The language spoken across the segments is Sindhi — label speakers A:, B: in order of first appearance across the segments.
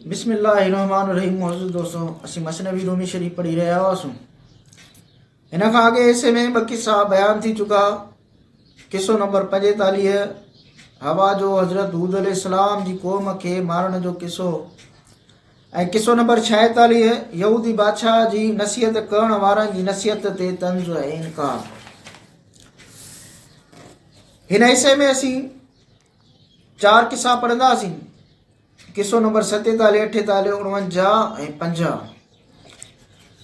A: بسم الله الرحمٰن الرحيم معزز دوستو اسين مثنوي رومي شريف پڙهي رهيا هئاسون ان کان اڳي حصي ۾ ٻه قصا بيان ٿي چڪا قصو نمبر پنجيتاليهه هوا جو حضرت حود عليه السلام جي قوم کي مارڻ جو قصو ۽ قصو نمبر ڇاهيتاليهه يهودي بادشاهه جي نصيحت ڪرڻ وارن جي نصيحت تي طنز ۽ انڪار هن حصي ۾ اسين چار قصا پڙهنداسين قصو نمبر ستيتاليهه اٺيتاليهه اڻونجاهه ۽ پنجاهه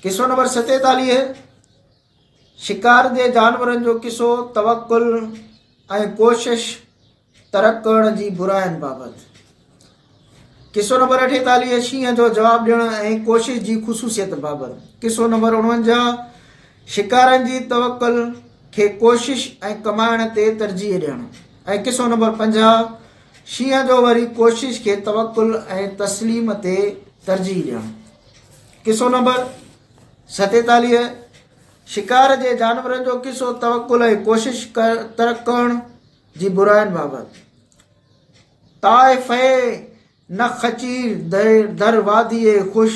A: قصو نمبر ستيتاليهه شڪار دي جانورن جو قصو توڪل ۽ ڪوشش ترڪ ڪرڻ جي برائين بابت قصو نمبر اٺيتاليهه، شينهن جو جواب ڏيڻ ۽ ڪوشش جي خصوصيت بابت قصو نمبر اڻونجاهه، شڪارين جي توڪل کي ڪوشش ۽ ڪمائڻ تي ترجيح ڏيڻ ۽ قصو نمبر پنجاهه، شينهن جو وري ڪوشش کي توڪل ۽ تسليم تي ترجيح ڏيڻ قصو نمبر ستيتاليهه، شڪار جي جانورن جو قصو توڪل ۽ ڪوشش ترڪ ڪرڻ جي براين بابت طائفئه نه خچير در واديء خوش،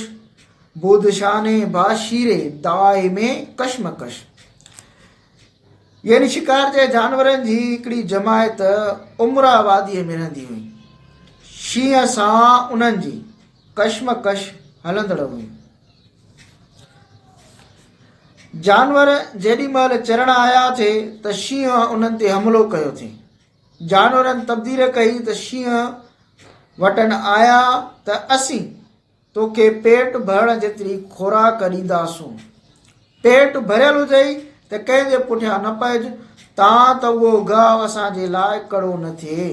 A: بودشانه با شير دائم ڪشمڪش. يعني شڪار جي جانورن جي هڪڙي جماعت عمرا واديء ۾ رهندي هئي. شينهن سان انهن جي ڪشمڪش هلندڙ هئي. جانور جيڏي مهل چرڻ آيا ٿي ته شينهن انهن تي حملو ڪيو ٿي. جانورن تبديل ڪئي ته شينهن وٽن آيا ته اسين توکي پيٽ ڀرڻ جيتري خوراڪ ڏينداسون. پيٽ ڀريل هجئي ته ڪنهن جي پٺيان نه پئج تان ته اهو گاهه اسان جي لاء ڪڙو نه ٿئي.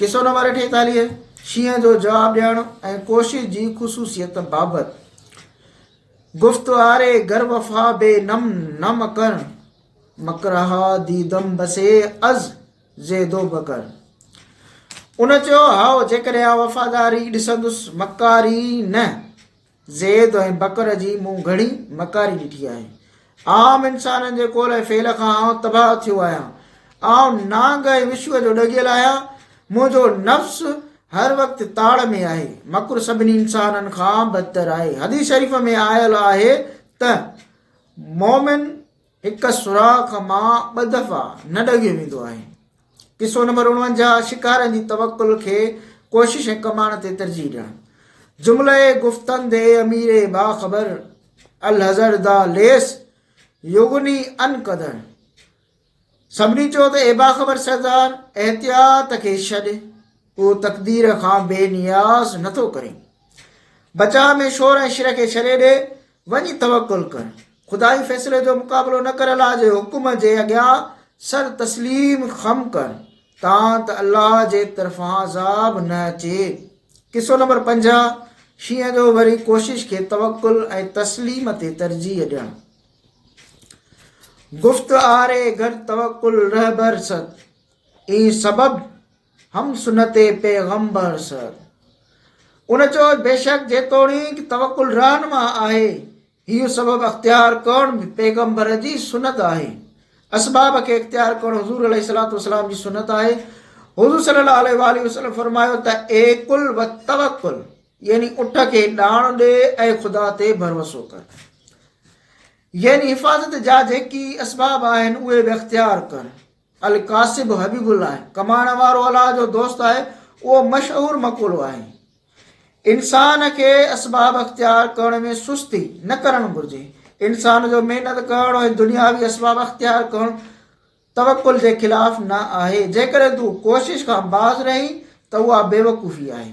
A: قصو نمبر اٺيتاليهه شينهن جو جواب ڏيڻ ۽ ڪوشش جي خصوصيت بابت گفتواري گر وفا بي نم نم ڪن مڪرها ديدم بسي از زيد و بکر. ان چيو، هائو، جيڪڏهن آء وفاداري ڏسندس، مڪاري نه. زيد ۽ بکر جي مون گهڻي مڪاري ڏٺي آهي. آئون انسانن جي قول ۽ فعل کان آئون تباهه ٿيو آهيان. آئون نانگ ۽ وشوء جو ڏڳيل آهيان. منهنجو نفس هر وقت تاڙ ۾ آهي. مڪر سڀني انسانن کان بدتر آهي. حديث شريف ۾ آيل آهي ته. مومن هڪ سوراخ مان ٻه دفعا نه ڊگهيو ويندو آهي قصو نمبر اڻونجاهه شڪارن جي توڪل کي ڪوشش ۽ ڪماڻ تي ترجيح ڏيڻ جملئ گفتن دي اميري باخبر الهزر دا ليس يغني ان قدر سڀني چيو ته اي باخبر سردار! احتياط کي ڇڏ، ڪو تقدير کان بي نياز نه ٿو ڪري. بچاء ۾ شور ۽ شر کي ڇڏي ڏي، وڃي توڪل ڪر. خدائي فيصلي جو مقابلو نه ڪر الله جي حڪم جي اڳيان سر تسليم خم ڪر، تان ته الله جي طرفان عذاب نه اچي. قصو نمبر پنجاهه، شينهن جو وري ڪوشش کي توڪل ۽ تسليم تي ترجيح ڏيڻ. گفت آري گر توکل رهبر ست اين سبب هم سنت پيغمبر ست ان چيو بيشڪ جيتوڻيڪ توکل رهنما آهي هي سبب اختيار ڪرڻ پيغمبر جي سنت آهي اسباب کي اختيار ڪرڻ حضور عليه الصلاه والسلام جي سنت آهي حضور صلي الله عليه وسلم فرمايو ته اي کل و توکل يعني اٺ کي ڏاڻ ڏي ۽ خدا تي ڀروسو ڪر. يعني حفاظت جا جيڪي اسباب آهن اهي به اختيار ڪر. الڪاسب حبيب الله ڪمائڻ وارو الله جو دوست آهي اهو مشهور مقولو آهي انسان کي اسباب اختيار ڪرڻ ۾ سستي نه ڪرڻ گهرجي انسان جو محنت ڪرڻ ۽ دنياوي اسباب اختيار ڪرڻ توڪل جي خلاف نه آهي جيڪڏهن تون ڪوشش کان باز رهي ته اها بيوقوفي آهي